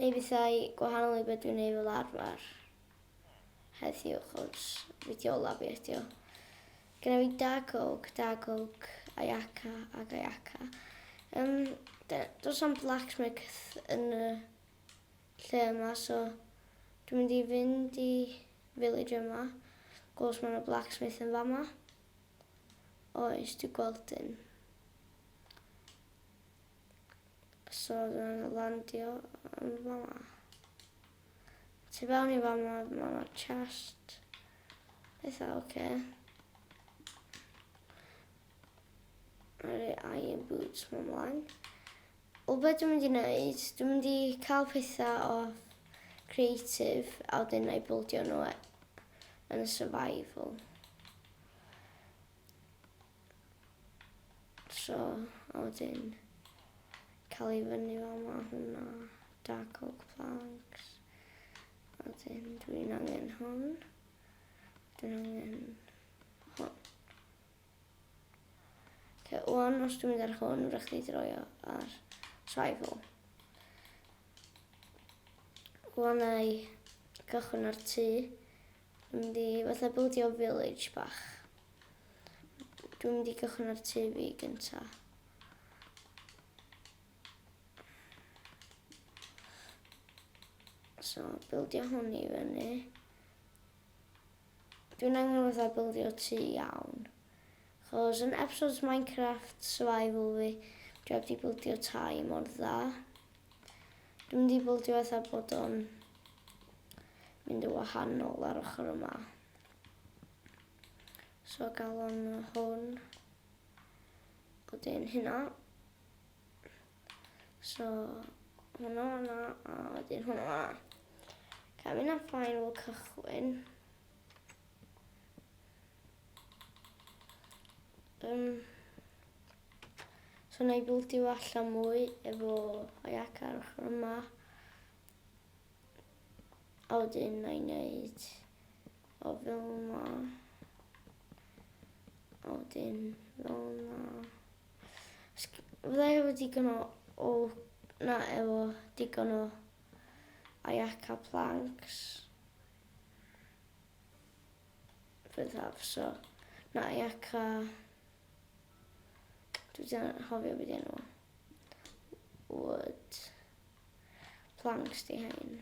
Neu bethau gwahanol i beth dwi'n neud fel arfer heddiw achos fideo lab fi ydio. Gynna fi da coke, da coke, ayaka ac ayaka. Um, does am blacksmith yn y lle yma so dwi'n mynd i fynd i village yma. Gwrs mae'n y blacksmith yn fama. Oes, dwi'n gweld un. So oedd yn landio yn fama. Tu fewn i fama, mae yna chest. Eitha, oce. Okay. Rhaid i iron boots mewn mlaen. O beth dwi'n mynd i wneud, dwi'n mynd i cael pethau o creative a wedyn na'i bwldio nhw yn y survival. So, a wedyn cael ei fyny fel ma hwnna. Dark oak planks. A wedyn dwi'n angen hwn. Dwi'n angen hwn. Okay, o'n os dwi'n mynd ar hwn, rydych chi droio ar tribal. Gwannau cychwyn ar tu Mynd i fatha bildio village bach. Dwi'n mynd i gychwyn ar tŷ fi gynta. So, bildio hwn i fyny. Dwi'n angen fatha bildio tŷ iawn. Chos yn episodes Minecraft survival fi, dwi heb di bildio tai mor dda. Dwi'n mynd i bildio fatha bod o'n mynd yn wahanol ar ochr yma. So galon hwn. Wedyn hynna. So hwnna hwnna a wedyn hwnna hwnna. Cael mynd am final cychwyn. Um, so na i bildio allan mwy efo Ayak ar ochr yma. A wedyn na i wneud o fel yma. A wedyn fel yma. Fydda i efo digon o, o na efo digon o Ayak a planks. byddaf so na i eca dwi wedi anghofio beth enw fo wood planks di hein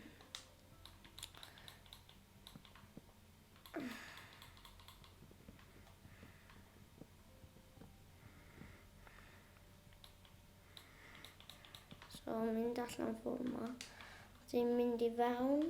so mynd allan ffordd ma ti'n mynd i fewn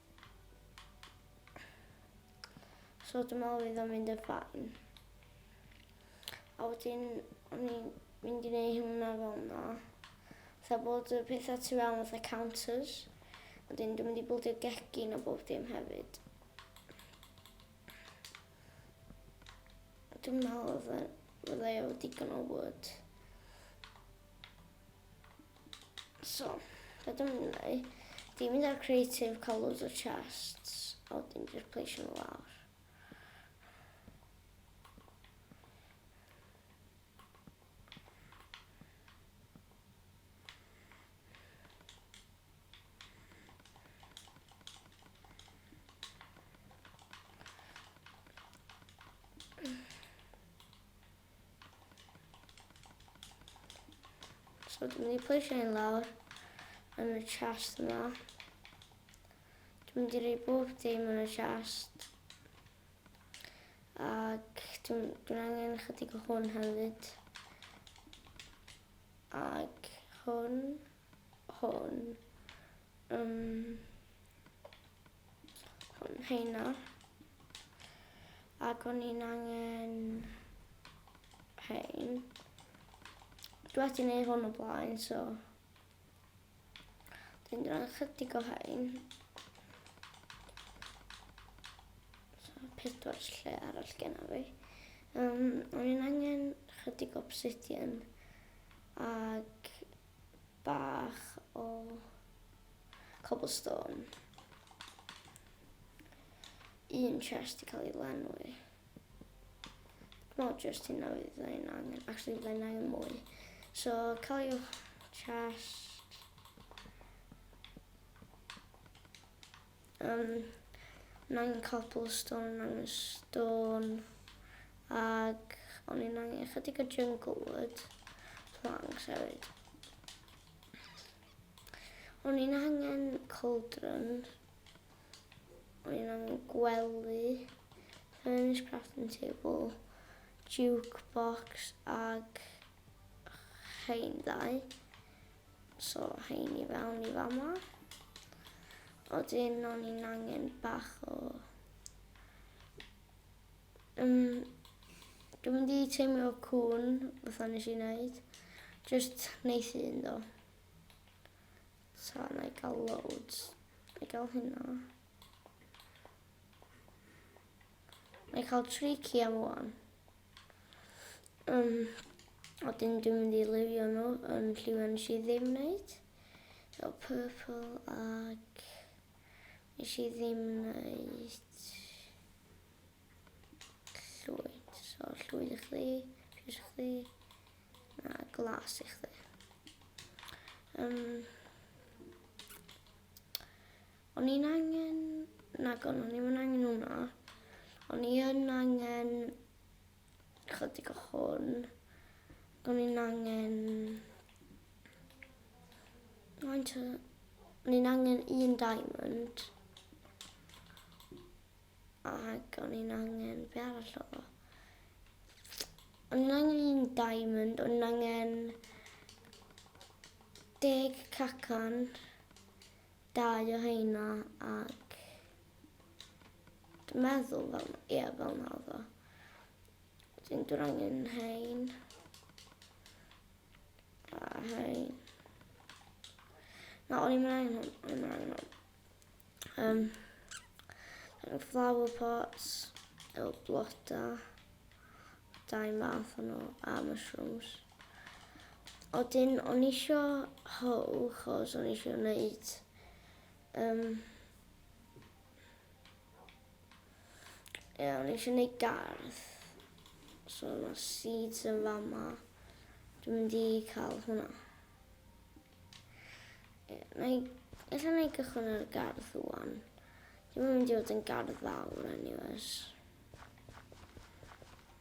So dwi'n meddwl fydd o'n mynd yn ffain. A wedyn, o'n i'n mynd i wneud hwnna fel yna. Tha bod y pethau tu fewn fatha counters. A wedyn dwi'n mynd i bwldio gegin o bob dim hefyd. Dwi'n meddwl fydda i o digon o wood. So, be dwi'n mynd i wneud, dwi'n mynd ar creative, cael loads o chests, a wedyn dwi'n pleisio nhw lawr. So dwi'n mynd i pleisio hyn lawr yn y chest yma. Dwi'n mynd i rei bob dim yn y chest. Ac dwi'n dwi angen chydig o hwn hefyd. Ac hwn, hwn. Um, heina ac o'n i'n angen hein. Dwi wedi gwneud hwn o blaen, so dwi'n dran chydig o hein. So, pedwar lle arall gen fi. Um, o'n i'n angen chydig obsidian ac bach o cobblestone. Un chest i cael ei lenwi. Not just hynna fydd ein angen, actually fydd ein angen mwy. So, cael ei chest. Yym o'n angen cobblestone, o'n angen stone ag o'n i'n angen ychydig o jungle wood, planks hefyd. O'n i'n angen cauldron, o'n i'n angen gwely, furnace crafting table, jukebox ag rhain ddau. So, hein i fewn i fama. Oedden o'n i'n angen bach o... Um, dwi'n mynd i teimio cwn, fatha nes i wneud. Just neith un do. So, na i gael loads. Na i gael hynna. Na i cael tricky am o'n. Um, a dyn dwi'n mynd i lifio nhw yn lliwio nes i ddim wneud. So purple ag nes i ddim wneud llwyd. So llwyd i chdi, piws i chdi, na glas i chdi. Um, O'n i'n angen... Nagon, o'n i'm yn angen hwnna. O'n i yn angen chydig o hwn. O'n i'n angen... O'n i'n angen un diamond. Ac o'n i'n angen... Be arall o? O'n i'n angen un diamond. O'n i'n angen... Deg cacan. Dau o heina ac dwi'n meddwl fel, ie, fel na oedd o. Dwi'n dwi'n angen hein. A hein. Na, o'n i'n angen hwn, o'n i'n angen hwn. Um, flower pots, efo bloda, dau math o'n nhw, a mushrooms. Odyn o'n isio how chos o'n isio wneud um, yeah, o'n eisiau gwneud gardd. So yna seeds yn fama. Dwi'n mynd i cael hwnna. Yeah, na i, ella na i gychwyn ar y gardd rwan. Dwi'n mynd i fod yn gardd fawr anyways.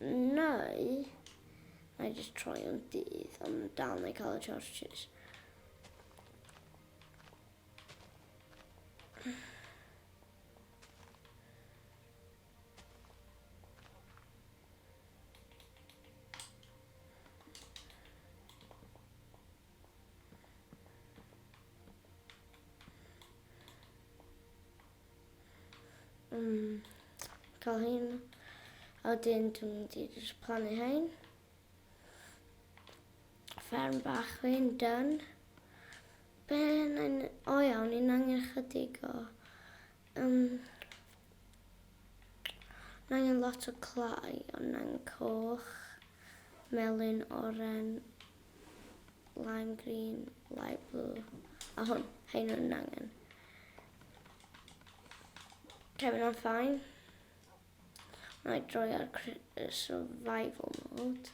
Neu, na i just troi o'n dydd, ond dal na i cael y charges. Mm, cael hyn. A wedyn dwi'n mynd i jyst plannu hyn. Fferm bach fi'n dyn. Be yn... O iawn, ni'n angen chydig o... Um, ni'n angen lot o clai, ond ni'n angen coch, melyn, oren, lime green, light blue, a hwn, hyn yn angen. Kevin I'm fine. Mae droi ar survival mode.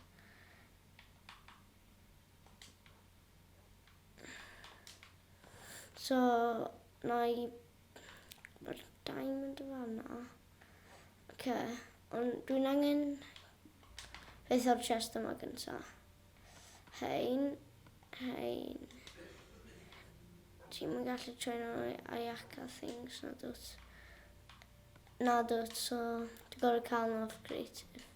So, na i... Mae'r diamond o fanna. Ok, ond dwi'n angen... Beth o'r chest yma gyntaf. Hein, hein. Ti'n mynd gallu train o'n i Ayaka things, na dwt. Na dwt, so ti'n gorau cael nhw off creative.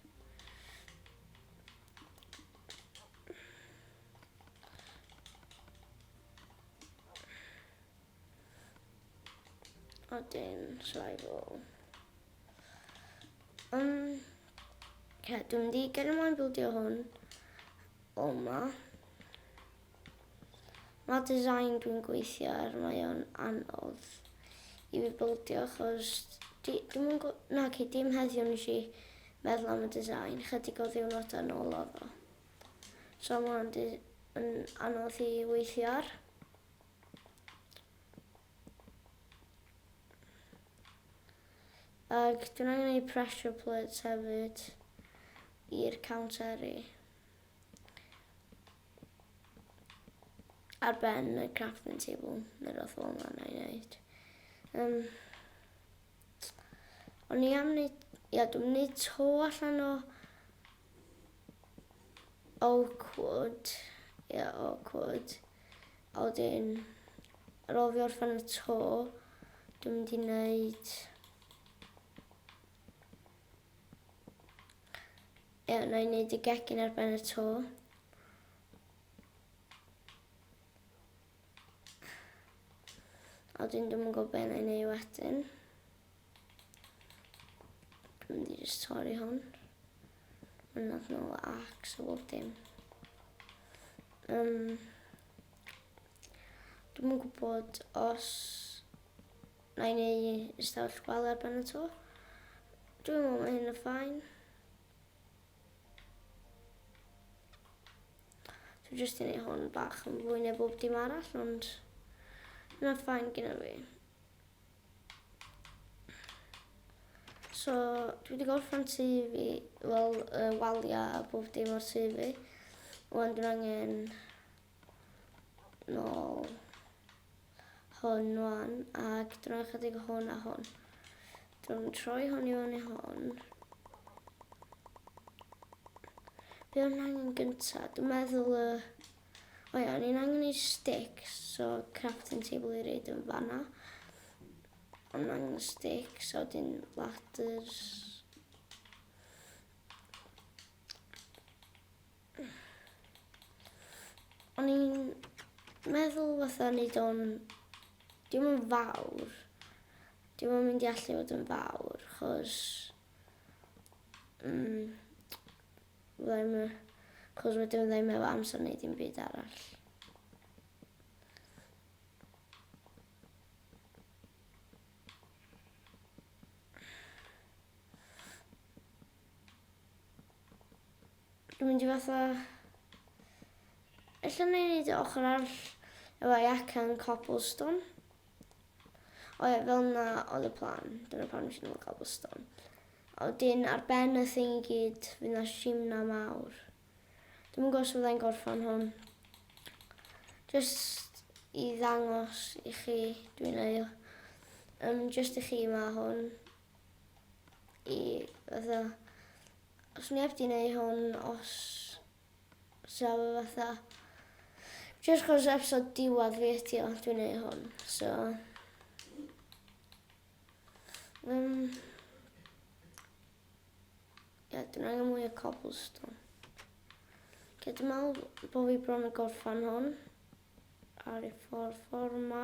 A dim survival. Um, yeah, dwi'n di gen i moyn bildio hwn o ma. Mae design dwi'n gweithio ar, mae o'n anodd i fi bildio achos di, dim yn gwybod, na ci, dim heddiw nes i meddwl am y design, chydig o ddiwrnod yn ôl o fo. So mae'n anodd i weithio ar. Ac dwi'n angen ei pressure plates hefyd i'r cawnteri. Ar ben y crafting table, neu rhywbeth fel yna na i wneud. Um, O'n i am neud, ia, dwi'm yn neud to allan o awkward, ia, awkward. A wedyn, ar ôl fi orffen y to, dwi'n mynd i neud Ie, na i wneud y gegin ar ben y to. A dwi'n ddim yn gwybod beth na i wneud wedyn. Dwi'n mynd i just torri hwn. Mae'n nad nhw ac so bob dim. Um, dwi'n yn gwybod os na i wneud ystafell gwal ar ben y to. Dwi'n meddwl mae hyn yn ffain. Dwi jyst yn ei hon bach yn fwy neu bob dim arall, ond yna ffain gyda fi. So, dwi wedi gorffen tu fi, wel, uh, walia a bob dim o'r tu fi. Wan dwi'n angen nôl hwn wan, ac drwy'n chydig o hwn a hwn. Drwy'n troi hwn i fyny hwn. Be o'n angen gyntaf? Dwi'n meddwl y... O ia, o'n i'n angen i sticks, so crafting table i reid yn fanna. O'n angen y sticks, a wedyn ladders. O'n i'n meddwl fatha neud o'n... Dim yn fawr. Dim yn mynd i allu fod yn fawr, chos... Mm, fydda i'm yn... Chos wedyn fydda i'm efo amser neud dim byd arall. Dwi'n mynd i fatha... Ella wna i wneud y ochr arall efo jacan cobblestone. O ie, fel yna oedd y plan. Dyna pan nes i nôl cobblestone. A wedyn ar ben y thing i gyd, fydd na simna mawr. Dwi'n mynd gos fyddai'n gorffan hwn. Just i ddangos i chi, dwi'n ei... Um, just i chi mae hwn. i fatha os neb di neu hwn os sa fe fatha jyst chos episod diwadd fi ydi o dwi'n neu hwn so um, ie dwi'n angen mwy o cobblestone Lle dwi'n meddwl bod fi bron yn gorffan hwn ar y ffordd ffordd ma.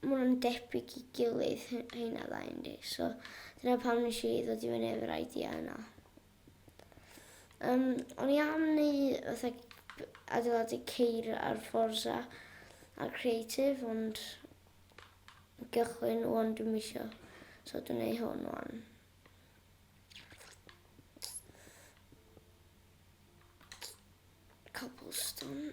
Maen nhw'n debyg i gilydd heina ddau yndi? So dyna pam nes i ddod i fyny efo'r idea yna. Um, o'n i am wneud fatha adeiladu ceir ar Forza a Creative ond gychwyn o'n dwi'n misio. So dwi'n gwneud hwn o'n. Cobblestone.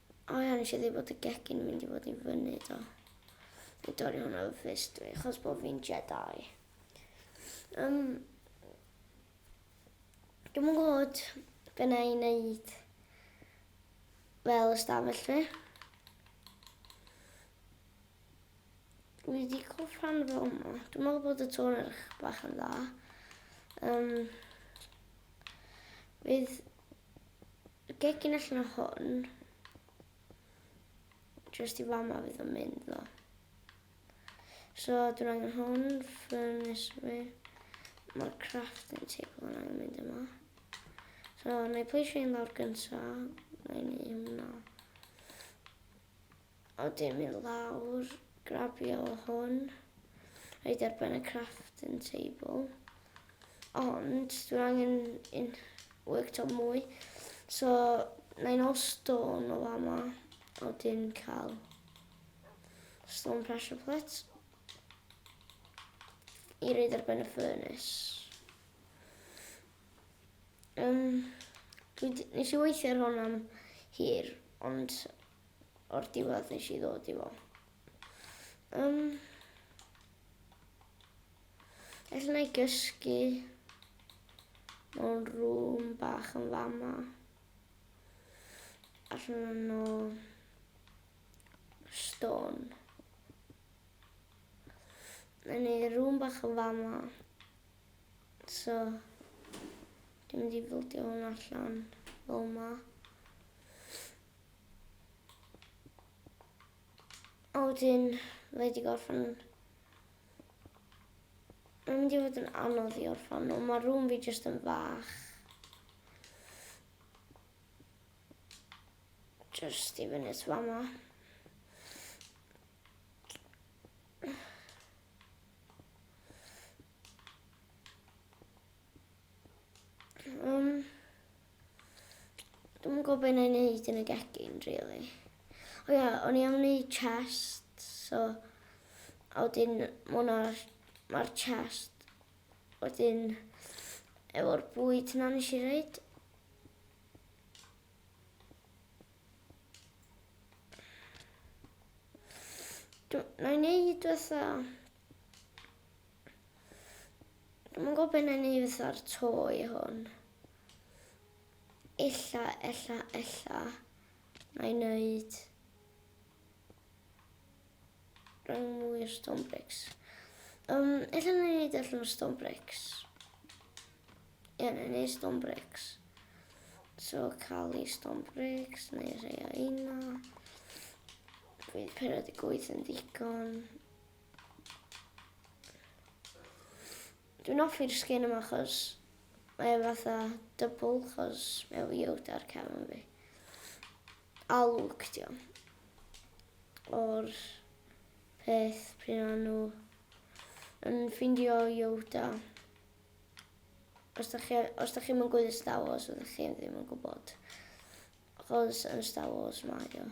O ia, nes i ddim bod y gegin yn mynd i fod i fyny do. I dorri hwnna fy ffist dwi, chos bod fi'n Jedi. Um, Dwi'n mwyn gwybod be na i wneud fel ystafell fi. Dwi wedi cael rhan fel yma. Dwi'n meddwl bod y tôn eich bach yn dda. Um, fydd Y gegin allan o hwn. Just i fama fydd o'n mynd ddo. So dwi'n angen hwn, furnace fi. Mae'r crafting table yn angen mynd yma. So na i pleisio un lawr gynta. Na i ni hwnna. A wedyn mynd lawr, grabio hwn, rhaid ar ben y crafting table. Ond dwi'n angen un worktop mwy. So, na i'n ôl stone o fama, a wedyn cael stone pressure plate i reid ar ben y furnace. Um, dwi, nes i weithio ar hwn am hir, ond o'r diwedd nes i ddod i fo. Um, Alla na i gysgu mewn rŵm bach yn fama. Alla na no stone. Na ni rŵm bach yn fama. So, dim di bildio hwn allan fel ma. A wedyn, mae wedi gorffen... Mae'n mynd i fod yn anodd i orffen nhw. Mae rŵm fi jyst yn fach. Just i fyny at fama. Um, Dwi'm yn gwybod be' na'i neud yn y gegin rili. O ia, o'n i am neud chest, so a wedyn ma' hwnna ma'r chest wedyn efo'r bwyd 'na nes i roid. Dw- na'i neud fatha Mae'n gwybod beth yn ei fatha'r to i hwn. Ella, ella, ella. Na i wneud... Rhaid mwy o stone bricks. Um, ella na i wneud allan o stone bricks. Ie, yeah, na i wneud stone bricks. So, cael ei stone bricks, neu rhai o una. Dwi'n perod i gweithio'n ddigon. Dwi'n offi'r skin yma achos mae e fatha double achos mae efo Yoda ar cefn fi. A Luke dio. O'r peth pryd o'n nhw yn ffindio Yoda. Os da chi, os da chi'n gwybod Star Wars, ydych chi ddim yn gwybod. Achos yn Star Wars mae o.